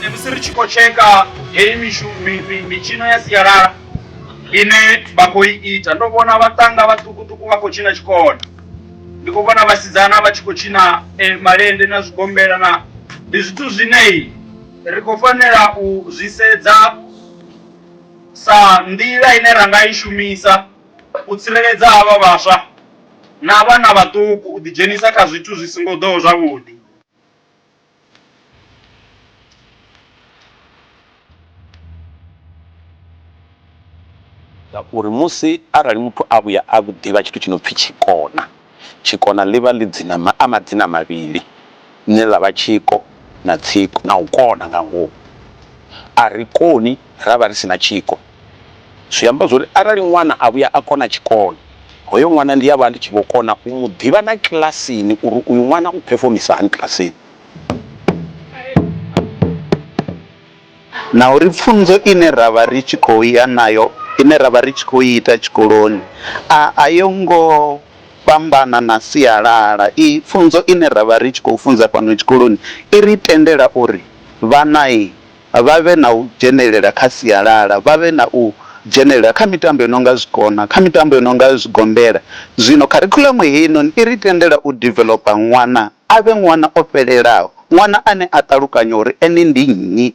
ne musi ri tshi khou tsheka heyi mishu- mi- mi- mitshino ya sialala ine vha khou i ita ndo vhona vhaṱanga vhaṱukuṱuku vha khou tshina tshikona ndi khou vhona vhasidzana vha tshi khou tshina e, malende na zwigombela na ndi zwithu zwinei ri khou fanela u zwi sedza sa nḓila ine ra nga i shumisa u tsireledza havha vhaswa na vhana vhaṱuku u ḓidzhenisa kha zwithu zwi songo ḓoho zwavhuḓi. Ngauri musi arali muthu a vhuya a ḓivha tshithu tshi no pfi tshikona, tshikona ḽi vha ḽi dzina a madzina mavhili ḽine ḽa vha tshiko na tsiko na u kona nga ngomu. A ri koni. ra vha ri si na tshiko. Zwi amba zwori arali ṅwana a vhuya a kona tshikolo, hoyo ṅwana ndi a vha ndi tshi vho kona u mu ḓivha na kilasini uri uyu ṅwana u phefomisa hani kilasini. Na uri pfunzo ine ra vha ri tshi khou ya nayo, ine ra vha ri tshi khou i ita tshikoloni a a yo ngo fhambana na sialala. I pfunzo ine ra vha ri tshi khou funza fhano tshikoloni i ri tendela uri vhana. vha vhe na u dzhenelela kha sialala, vha vhe na u dzhenelela kha mitambo i no nga zwikona, kha mitambo i no nga zwigombela. Zwino kharikhuḽamu heinoni i ri tendela u developer ṅwana a vhe ṅwana o fhelelaho, ṅwana ane a ṱalukanya uri ene ndi nnyi.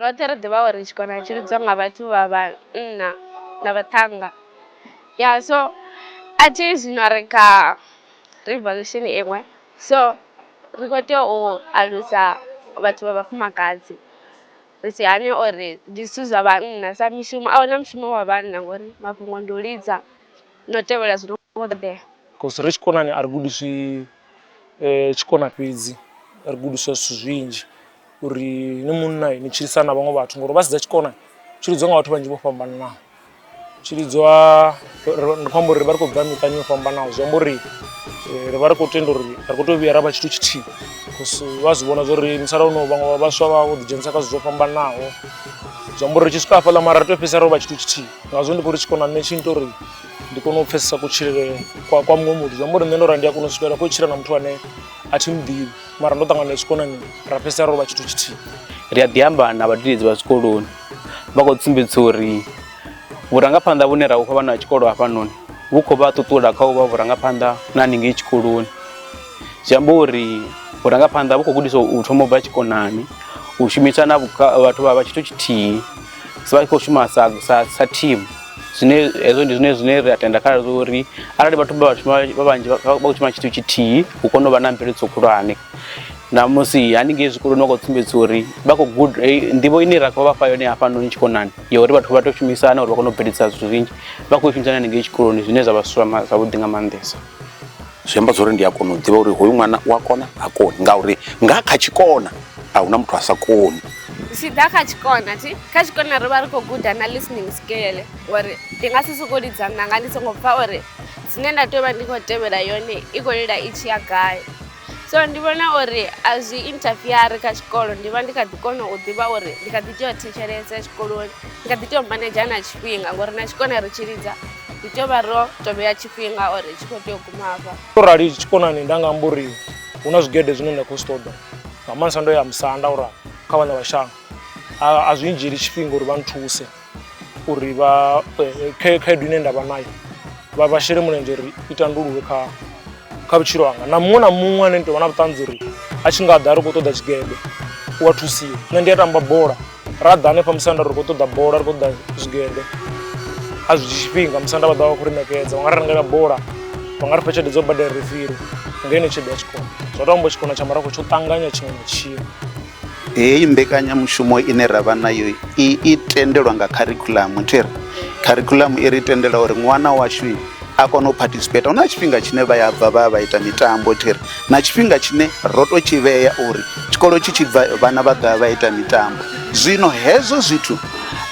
Roṱhe ri ḓivha uri tshikona tshi lidzwa nga vhathu vha vhanna na vhaṱhannga ya so a thi zwino ri kha revolution iṅwe so ri kho tea u alusa vhathu vha vhafumakadzi ri si hane uri ndi zwithu zwa vhanna sa mishumo a huna mushumo wa vhanna ngori mafhungo ndi u lidza na u tevhela zwi no kho ṱoḓea. Cause ri tshikonani a ri gudiswi tshikona fhedzi ri gudiswa zwithu zwinzhi uri ni munna ni tshilisana na vhaṅwe vhathu ngori vhasedza tshikona tshi lidziwa nga vhathu vhanzhi vho fhambananaho tshi lidziwa ndi khou amba uri ri vha ri khou bva miṱani yo fhambanaho zwi amba uri ri vha ri khou tenda uri ri khou tea u vhuya ra vha tshithu tshithihi cause vha zwi vhona zwori musalauno vhaṅwe vhaswa vha vho ḓidzhenisa kha zwithu zwo fhambanaho zwi amba uri ri tshi swika hafhaḽa mara ri tea u fhedzisela ro vha tshithu tshithihi ngazwo ndi khou ri tshikona nṋe tshi nnyita uri ndi kone u pfesesa kutshilele kwa kwa muṅwe muthu zwi amba uri nṋe ndo ra ndi a kona u swikelela kho tshila na muthu ane a thi muḓivhi mara ndo ṱangana na tshikonani ra fhedzisela ro vha tshithu tshithihi ri a ḓi amba na vhadededzi vha zwikoloni vha khou sumbedzisa uri vhurangaphanḓa vhune ra vhufha vhana vha tshikolo hafhanoni vhu khou vha ṱuṱula kha u vha vhurangaphanḓa na haningei tshikoloni zwi amba uri vhurangaphanḓa vhu khou gudiswa u thoma u bva tshikonani u shumisana vhathu vha vha tshithu tshithihi vha tshi khou shuma sa sa sa thimu zwine hezwo ndi zwine zwine ri a tenda kha zwo uri arali vhathu vha vhashuma vha vhanzhi vha khou shuma tshithu tshithihi hu kone u vha na mveledziso khulwane na musi haningei zwikoloni vha khou sumbedza uri vha khou guda eh, nḓivho ine ra khou vha fha yone hafhanoni tshikonani ya uri vhathu vha tou shumisana uri vha kone u bveledzisa zwithu zwinzhi vha khou i shumisana haningei tshikoloni zwine zwa vha zwavhuḓi nga maanḓesa zwi amba zwori ndi a kona u ḓivha uri hoyu ṅwana u a kona ha koni ngauri nga kha tshikona a huna muthu a sa koni zwi ḓa kha tshikona thi kha tshikona ri vha ri khou guda na listening scale uri ndi nga si sokou lidza nanga ndi songo pfha uri zwine nda tea u vha ndi khou tevhela yone i khou lila i tshi ya gai so ndi vhona uri a zwi interfeari kha tshikolo ndi vha ndi kha ḓi kona u ḓivha uri ndi kha ḓi tea u thetshelesa tshikoloni ndi kha ḓi tea u manedzha na tshifhinga ngori na tshikona ri tshi lidza ri tea u vha ro to vhea tshifhinga or tshi khou tea u guma hafha to rali tshikonani nda nga amba uri hu na zwigede zwine nda khou zwi ṱoḓa nga maanḓesa ndo ya musanda ura kha vhana vha shango a zwi ndzhieli tshifhinga uri vha nthuse uri vha eh, khaedu ine nda vha nayo vha vha shele mulenzhe uri i tandululwe kha kha vhutshilo hanga na muṅwe na muṅwe ane nitowana vhuṱanzi uri a tshi nga ḓa a ri khou ṱoḓa tshigede u a thusiwa nṋe ndi a tamba bola ra ḓa hanefha musanda ri khou ṱoḓa bola ri khou ṱoḓa zwigede a zwi dzhi tshifhinga musanda vha ḓa vha khou ri ṋekedza vha nga ri rengela bola vha nga ri fha tshelede dzo badela refiri ngeno tshelede ya tshikona zwa to amba tshikona tsha marafho tsho ṱanganya tshiṅwe na tshiṅwe Heyi mbekanyamushumo ine ra vha nayo i i tendelwa nga kharikhuḽamu thi ri kharikhuḽamu i ri tendela uri ṅwana washu a kone u participate hu na tshifhinga tshine vha ya bva vha ya vha ita mitambo thi ri na tshifhinga tshine ro tou tshi vhea uri tshikolo tshi tshi bva vhana vha ḓovha vha ita mitambo. Zwino hezwo zwithu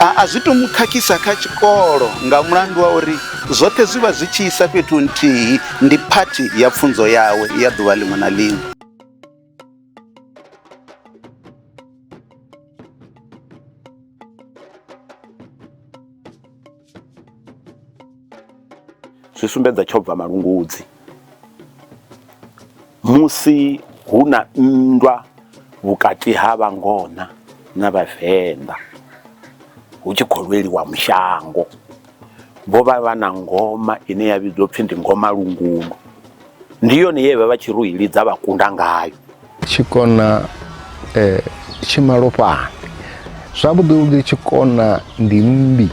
a a zwi to mu khakhisa kha tshikolo nga mulandu wa uri zwoṱhe zwi vha zwi tshi isa fhethu nthihi ndi phathi ya pfunzo yawe ya ḓuvha ḽiṅwe na ḽiṅwe. zwi sumbedza tsho bva malungudzi musi hu na nndwa vhukati ha vhangona na vhavenḓa hu tshi khou lweliwa mushango. vho vha vha na ngoma ine ya vhidzwa upfhi ndi ngoma lungundu ndi yone ye vha vha tshi ri u i lidza vha kunda ngayo tshikona um tshimalofhani zwavhuḓi vhuḓi tshikona ndi mmbi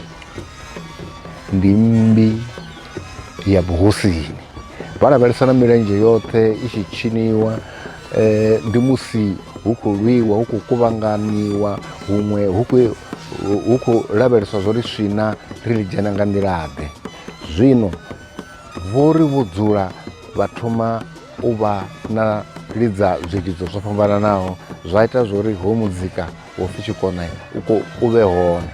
ndi mmbi ya vhuhosini vha lavhelesa na milenzhe yoṱhe i tshi tshiniwa eh, ndi musi hu khou lwiwa hu khou kuvhanganyiwa huṅwe hu khou hu khou lavheleswa zwo ri swina ri ḽi dzhena nga nḓilaḓe zwino vho ri vho dzula vha thoma u vha na lidza zwilidzo zwo fhambananaho zwa ita zwo ri ho muzika wo pfi tshikona u vhe hone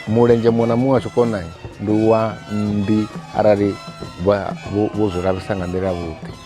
mulenzhe muṅwe na muṅwe wa tshikona ndi wa mmbi arali vho zwi lavhisa nga nḓila vhuḓi